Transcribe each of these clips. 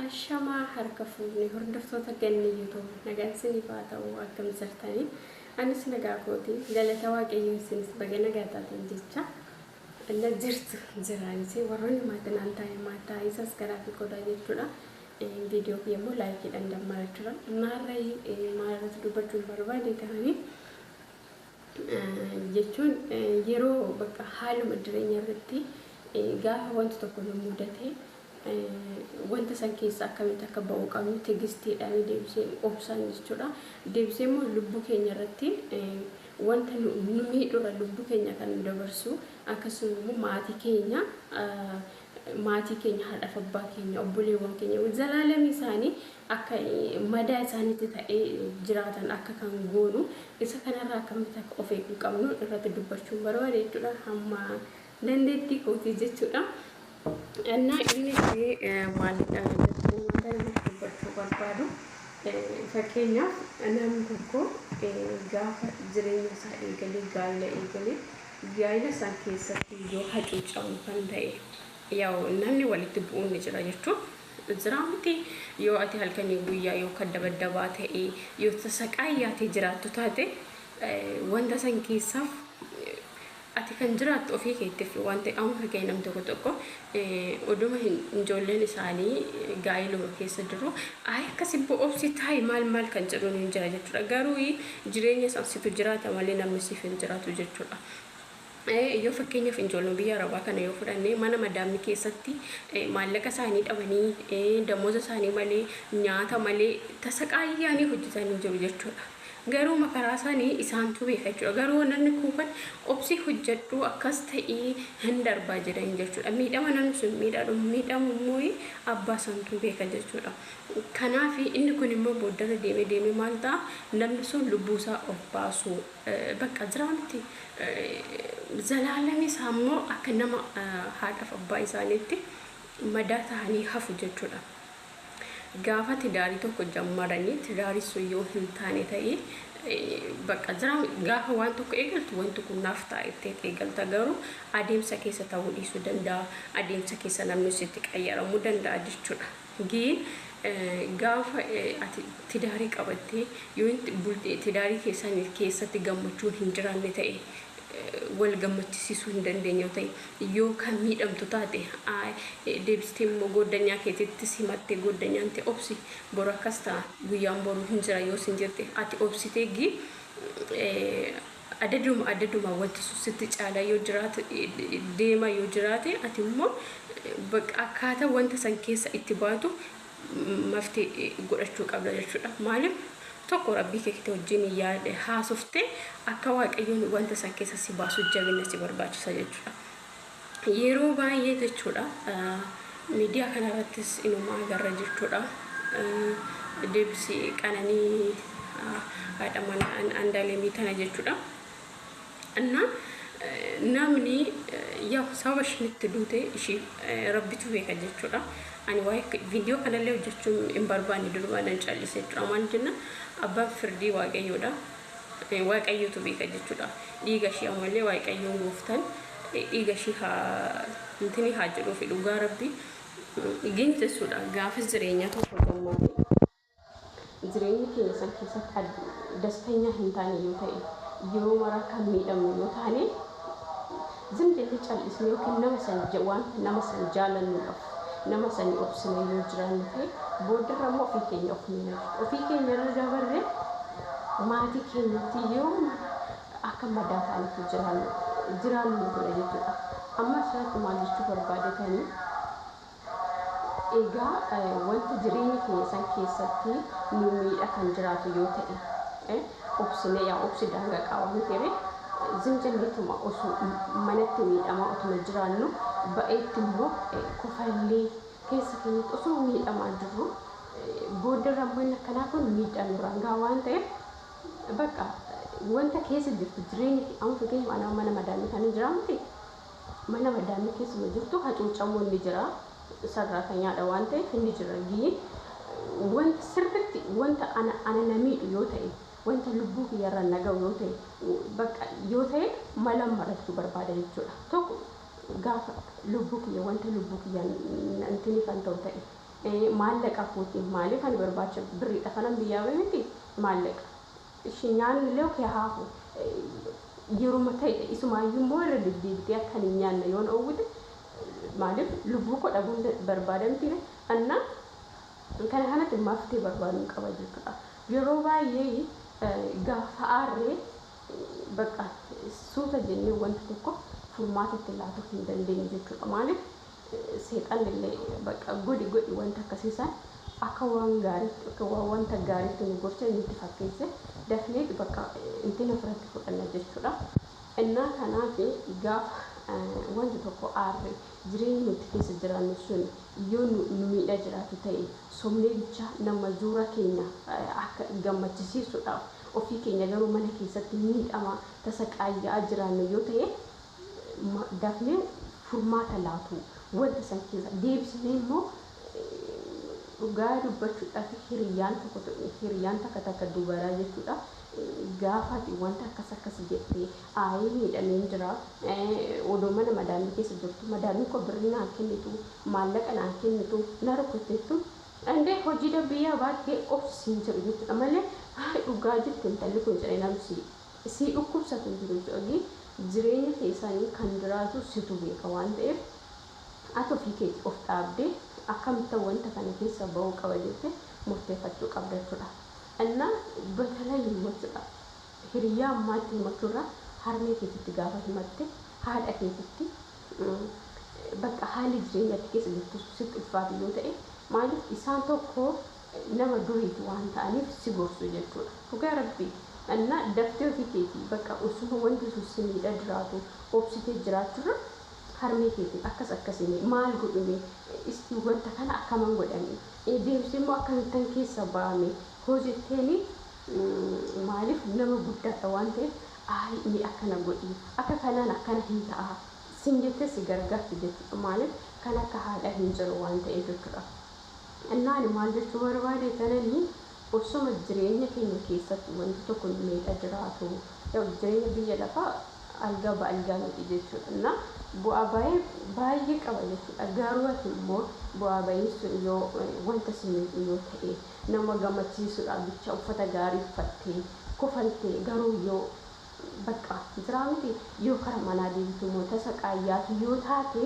Ashamaa harka fuunni hordoftoota ganni yuutuub nagaan isiniif haa ta'u akkam jirtanii anis nagaa kooti galata waaqayyoo isinis baga nagaa taatan jecha na jirtu jiraanisee warroonni maatinaan taa'e maataa isas garaa fi qodaa jechuudha Viidiyoo kiyya immoo laayikiidhaan dammaraa jira. Amma har'a maal irratti dubbachuun barbaade tahanii jechuun yeroo bakka haaluma jireenya irratti gaafa wanti tokko nu mudate wanta san keessa akkamitti akka ba'uu qabnu tigistiidhaan deebisee obsaan jechuudha. Deebisee immoo lubbuu keenya irratti wanta nu miidhurra lubbuu keenya kan nu dabarsu akkasuma immoo maatii keenya maatii keenya haadhaaf abbaa keenya obboleewwan keenya zalaalamii isaanii akka madaa isaaniitti ta'ee jiraatan akka kan goonu isa kanarraa akkamitti akka of eeguu qabnu irratti dubbachuun barbaade jechuudha hamma dandeettii kootii jechuudha. Annaa innis maalidha jechuun wanta namatti dubbachuu barbaadu fakkeenyaaf namni tokko gaafa jireenya isaa eegalee gaa'ila eegalee Gaa'ila san keessatti yoo hacuucamu kan ta'e yaw namni walitti bu'uun ni jira jechuun jiraa miti yoo ati halkanii guyyaa yoo kaddabadabaa ta'e yoo tasaqaayyaatee jiraattu taate wanta san keessaaf ati kan jiraattu ofii keettifi wanta amri kee nam tokko tokko Oduma hin ijoolleen isaanii gaa'iluma keessa jiru ayi akka sibbo obsi taayi maal maal kan jedhuun hin jira jechuudha garuu jireenya san situ jiraata malee namni siif hin jiraatu jechuudha. Yoo fakkeenyaaf ijoolleen biyya arabaa kana yoo fudhanne mana madaammi keessatti maallaqa isaanii dhabanii damooza isaanii malee nyaata malee tasaqaayyaanii hojjetanii jiru jechuudha. Garuu makaraa isaani isaantuu beeka jechuudha. Garuu namni kuufan obsii hojjadhuu akkas ta'ii hin darbaa jedhan jechuudha. Miidhama namni sun miidhadhu miidhamu immoo abbaa santuu beeka jechuudha. Kanaafi inni kun immoo booddarra deemee deemee maal ta'a namni sun lubbuu isaa of baasuu bakka jiraa miti zalaalami isaa immoo akka nama haadhaaf abbaa isaaniitti madaa ta'anii hafu jechuudha. Gaafa tidaarii tokko jammaranii tidaari sun yoo hin taane ta'e bakka jira gaafa waan tokko eegaltu wanti kun naaf ta'a itteet eegalta garuu adeemsa keessa ta'uu dhiisuu danda'a adeemsa keessa namni sitti qayyaramuu danda'a jechuudha. Giin gaafa ati tidaarii qabattee yoo tidaarii keessan keessatti gammachuun hin jiraanne ta'e wal gammachisisuu hin dandeenye yoo ta'e Yoo kan miidhamtu taate, I. Deebistee immoo gooddanyaa keetitti simatte gooddanyaan tee obsi, boru akkas ta'a, guyyaan boruu hin jira yoo siin jette, ati obsitee gi, e, adaduma adaduma wanti sun sitti caalaa yoo jiraatu, deemaa yoo jiraate, ati immoo, e, baqqa akkaata wanta san keessa itti baatu mafti godhachuu qabda jechudha maalif tokko rabbii keekiti wajjin yaade haasofte akka waaqayyoon wanta san keessa si baasu jabinna si barbaachisa jechudha yeroo baay'ee jechudha miidiyaa kana irrattis inumaa garra jechudha deebisi qananii haadha mana andaalemii tana jechudha እና namni yaw sababa ishiin itti duute ishii rabbitu beeka jechuudha. Ani waa'ee viidiyoo kanallee hojjechuun hin barbaanne durumaanan callise jechuudha. Maal jenna abbaan firdii waaqayyoodha. Waaqayyotu beeka jechuudha. Dhiiga ishii ammallee waaqayyoon gooftan dhiiga ishii haa intini haa jedhuufi dhugaa rabbi. Gin jechuudha gaafas jireenyaa tokko gammaaduu. Jireenya keenya san keessatti dastanyaa hin taane yoo ta'e, yeroo maraa kan miidhamnu yoo taane, zim jennee cal'isnee yookiin nama san wanta nama san jaalannuudhaaf nama sanii obsinee yoo jiraannu ta'e, booddarra immoo ofii keenya of miina jechuudha. Ofii keenya irra dabarree maatii keenyatti yeroo mara akka madaa taanetti jiraannu jiraannu nu godha jechuudha. Amma asirratti maal jechuu barbaadetanii? Egaa wanti jireenya keenya san keessatti nu miidha kan jiraatu yoo ta'e, eh, obsinee yaa obsi daanga qaba miti ree? Zim jenneetuma osoo manatti miidhamaa otuma jiraannu ba'eetti immoo kofallee keessa keenyatti osoo miidhamaa jirru booddarra immoo inni akkanaa kun miidhaa nurraan gaha waan ta'eef bakka wanta keessa jirtu jireenya kee amma fakkeenyaaf anaa mana madaamii kanan jiraa miti Mana maddaamni keessuma jirtu hacuucamuun ni jira. Sarraatanyaadha waan ta'eef inni jira. G Wanta sirritti wanta ana ana na miidhu yoo ta'e, wanta lubbuu kiyyarra na ga'u yoo ta'e, bakka yoo ta'e malan marachuu barbaada jechuudha. Tokko gaafa lubbuu kiyya wanta lubbuu kiyya nantini kan ta'u ta'e, maallaqa kootiin maaliif ani barbaacha birriidha kanan biyyaa ba'e miti maallaqa. Ishii nyaanni illee ok haa hafu yeruma ta'e isumaayyuu immoo irra deddeebitee akka ani hin nyaanne yoon oowwite maaliif lubbuu koo dhabuun barbaada miti ree anna kana kanatti maftee barbaadun qaba jechuudha yeroo baay'ee gaafa aarree bakka suuta jennee wanta tokko furmaata itti laatu hin dandeenyu jechuudha maaliif Seexannillee bakka godhi godhi wanta akkasii san akka waan gaariitti akka waan wanta gaariitti nu gorchee nutti fakkeesse dafneeti bakka intini ofirratti fudhanna jechuudha. Innaa kanaaf gaafa wanti tokko aarre jireenyi nutti keessa jiraannu sun yoo nu nu miidhaa jiraatu ta'e sobnee bicha nama zuura keenya akka gammachisiisuudhaaf ofii keenya garuu mana keessatti miidhamaa tasaqaayya'aa jiraannu yoo ta'e dafnee furmaata laatuu wanta san keessa deebisanii immoo dhugaa dubbachuudhaaf hiriyyaan tokko hiriyyaan takka takka dubaraa jechuudha gaafaati wanta akkas akkas jettee aayii miidhameen jira odoo mana madaamii keessa jirtu madaamiin koo birrii naan kennitu maallaqa naan kennitu na rukutteettu andee hojii dabbii yaa baattee obsi siin jedhu jechuudha malee dhugaa jette intalli kun jedhee namsi Isii dhukkubsate jiru cali jireenya kee sani kan jiraatu situ beeka waan ta'eef ati ofii keeti of dhaabde akkamittan wanta kana keessa ba'uu qaba jette murteefachuu qabda jechudha inna batalayi immoo jechudha hiriyyaa ammaatti himachurra harmee keetitti gaafa himatte haadha keetitti bakka haalli jireenya ati keessa jirtu sitti ulfaate yoo ta'e maalif isaan tokko nama duriiti waan ta'aniif si gorsu jechuudha dhugaa rabbii na daftee ofii keetii bakka osuma wanti sun si miidha jiraatu obsitee jiraachurra harmee keetiin akkas akkasi mee maal godhu mee isti wanta kana akkaman godha mee deemsee immoo akkamittan keessa ba'a mee hoo jetteeni maaliif nama guddaadha waan ta'eef aayii mee akkana godhii akka kanaan akkana hin ta'a sin jettee si gargaarti jechuudha maaliif kan akka haadha hin jiru waan ta'eef jechuudha. Kennaa ani maal jechuu barbaade tananii ossoma jireenya keenya keessatti wanti tokko nu miidha jiraatu yaw jireenya biyya lafaa algaa ba algaa miti jechuudha na bu'aa baayee baayee qaba jechuudha garuu ati immoo bu'aa bayiin sun yoo wanta si miidhu yoo ta'e nama gamachiisuudhaaf jecha uffata gaarii uffattee kofaltee garuu yoo bakka jiraa miti yoo kara manaa deebitu immoo tasa qaayyaatu yoo taate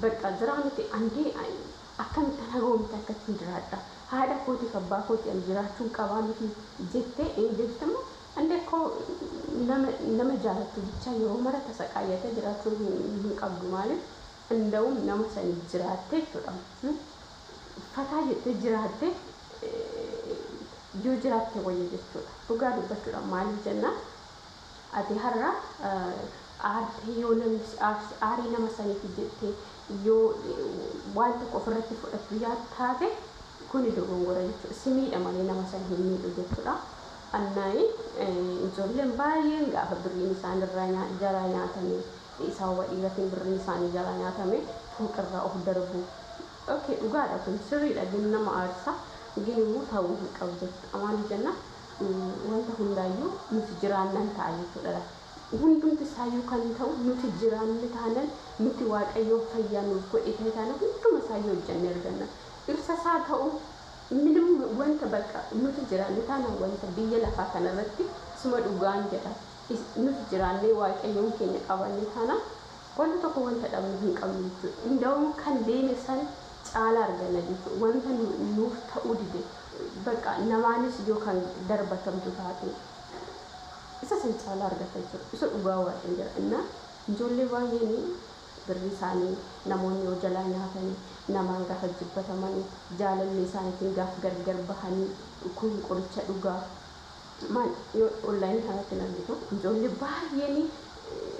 Baqqaa jiraa miti andii akkamittan hagoomte akkattin jiraadha haadha kootiif abbaa kootii ani jiraachuun qabaa miti jette in beektammo andee kko nama nama jaalattu bichaa yeroo mara tasaqaayyata jiraachuu hin qabdu maaliif indawum nama saniif jiraatte jechuudha fataa jette jiraatte yoo jiraatte wayya jechuudha dhugaa dubbachuudha maaliif jennaan Ati har'a aartee yoo namni si aarse aarii nama saniiti jettee yoo waan tokko ofirratti fudhattu yaad taate kuni dogongora jechuudha. Si miidha malee nama san hin miidhu jechuudha. Annaayi ijoolleen baay'een gaafa birriin isaan irraa nyaa- jalaa nyaatame sababa dhiiratiin birriin isaanii jalaa nyaatame fooqirraa of darbu. Okay dhugaadha kun sirriidha gin nama aarsa gin immoo ta'uu hin qabu jechuudha. Maaliif jennaan Wanta hundaayyuu nuti jiraannan ta'a jechuudha laata? Hundumti isaayyuu kan ta'u nuti jiraanne taanaan, nuti Waaqayyoon fayyaa nuuf godhe ta'e taanaan hunduma isaayyuu hojjannee arganna. Dhirsa isaa ta'u minim wanta bakka nuti jiraanne taanaan wanta biyya lafaa kana irratti isuma dhugaan jedha nuti jiraannee Waaqayyoon keenya qabaanne taanaan, Wanti tokko wanta dhabnu hin qabnu jechuudha. Inda'um kan deeme san caalaa arganna jechuudha. Wanta nuuf ta'uu dide, bakka namaanis yoo kan darbatamtu taate, isa san caalaa argatta jechuudha. Isa dhugaa Waaqin jedha. Inna ijoollee baay'een birrii isaanii namoonni yoo jalaa nyaatanii, namaan gaafa jibbatamanii, jaalallee isaaniitiin gaafa gargar bahanii, kun qoricha dhuga, Maal yoo online kanatti hin argitu ijoollee baay'een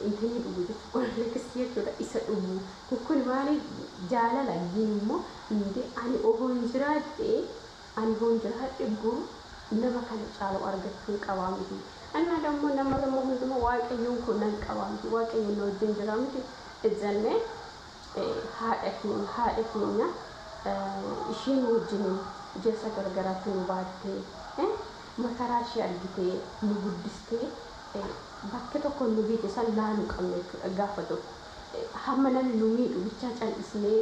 inta ni dhugu jechuudha orleeksii jechuudha isa dhugu kun maali jaalala gin immoo indee ani ohoon jiraadhe ani hoon jiraadhe boru nama kana caalu argachuun qabaa miti ani maada immoo namarra immoo hunduma waaqayyoon koo nan qabaa miti waaqayyoon na wajjin jiraa miti jennee haadha keenya, haadha keenya, isheen wajjinin jessa gargaraatti nu baattee, makaraa ishee argitee, nu guddistee, bakka tokko nu geesse san laalu qabna jechuudha gaafa tokko. Hamma namni nu miidhu bichaa cal'isnee,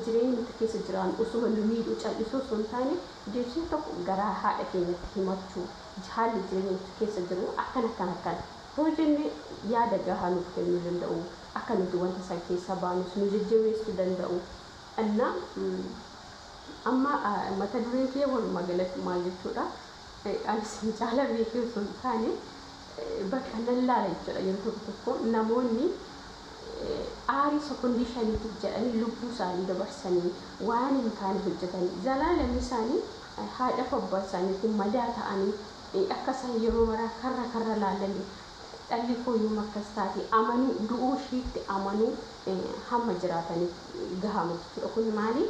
jireenyi nuti keessa jiraannu osuma nu miidhuu cal'isuu osoo hin taane, deebisnee tokko garaa haadha keenyatti himachuu, haalli jireenya nuti keessa jirru akkana akkana akkana. Hoo jenne yaada gahaa nuuf kennuu danda'u, akka nuti wanta san keessaa baanus nu jajjabeessu danda'u. Anna, Amma mata dureen kiyya walumaa galatti maal jechuudha? An isin caalaa beekee osoo hin taane bakka nan laala jechuudha yeroo tokko tokko namoonni aarii sekondii shaniitiif jedhanii lubbuu isaanii dabarsanii waan hin taane hojjetanii zalaalamni isaanii haadhaaf abbaa isaaniitiin madaa ta'anii Akka isaan yeroo maraa karra karra laalanii dhalli koo yoom akkas taati amanuu du'uu ishiitti amanuu hamma jiraataniif gahaama jechuudha. Kun maali?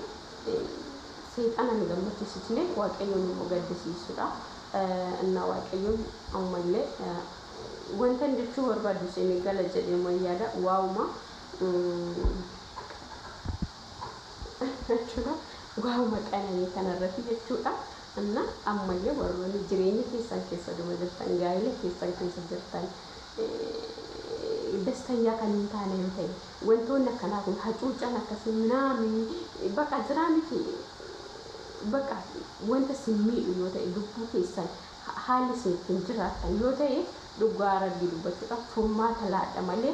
Seexana hin gammachisisne Waaqayyoon immoo gaddisiisudha. Innaa Waaqayyoon amma illee wantan jechuu barbaadu isinii gala jedheeman yaada waawuma jechuudha waawuma qananii kanarratti jechuudha. Anna ammalle warroni jireenya keessan keessa duma jirtan gaa'ila keessan keessa jirtan dastanyaa kan hin taane yoo ta'e wantoonni akkanaa kun hacuuccaan akkasii minaami baqa jiraa miti baqa wanta sin miidhu yoo ta'e lubbuu keessan ha- haalli isin ittiin jiraattan yoo ta'e dhugaa rabbii dubbachuudhaaf furmaata laadha malee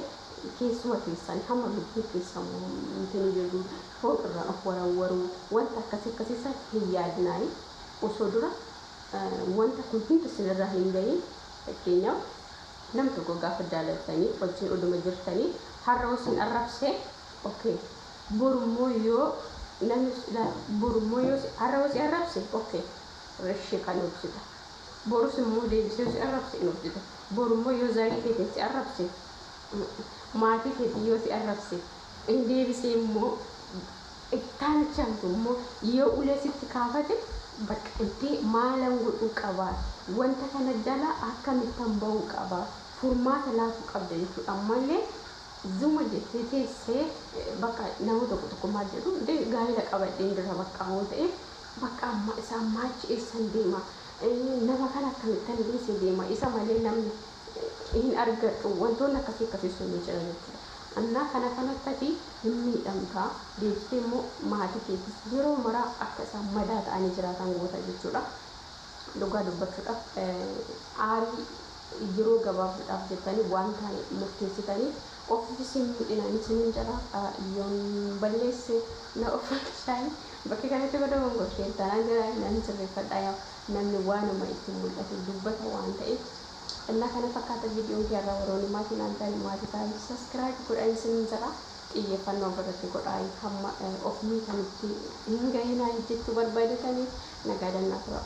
keessuma keessan hamma lubbuu keessan mormtanii jirru fooq irraa of warawwaruu wanta akkasi akkasi san hin yaadinaayi osoo dura wanta kun hundi isin irraa hin gahiin fakkeenyaaf nam tokko gaafa jaalattanii wajjin oduma jirtanii har'a yoo isin arrabsee okay boru immoo yoo namni si ilaale boru immoo yoo si har'a yoo si arrabse okay reshii kan obsita borus immoo deebisee yoo si arrabse hin obsita boru immoo yoo zarii keetiin si arrabse maatii keetiin yoo si arrabse Inni deebisee immoo, Ittaanachaan kun immoo yoo ulee sitti kaafate, bakka itti maalan godhuu qaba? Wanta kana jalaa akkamittan ba'uu qaba? Furmaata laatu qabda jechuudha. Amma illee zuma jettee teessee bakka nama tokko tokko maal jedhu, dee gaa'ila qabadheen jira bakka waan ta'eef, bakka amma isa ammaa achi eessan deema? Nama kana akkamittan dhiise deema? Isa malee namni. hin argadhu wantoonni akkasii akkasii sun ni jira jechuudha. Annaa kana kanatti ati hin miidhamta deebistee immoo maatii keetis yeroo maraa akka isaan madaa ta'anii jiraatan goota jechuudha. Dhugaa dubbachuudhaaf aarii yeroo gabaabduudhaaf jettanii waan taane murteessitanii ofiifis hin miidhina ni sinin jedha yoon balleesse na ofakkishaayii bakka kanatti godha gongorteen tanaan jedha nan sirreeffadha yaa namni waanuma itti mul'ate dubbata waan ta'eef Ennaa kana fakkaata viidiyoon kee irraa warroonni maatii naan taane maatii taa'ii subscribe godhaa isinin jedha xiyyeeffannoo ofirratti godhaa hamma of miitanitti hin gahinaa jechuu barbaadetanii nagaadannaa turaa.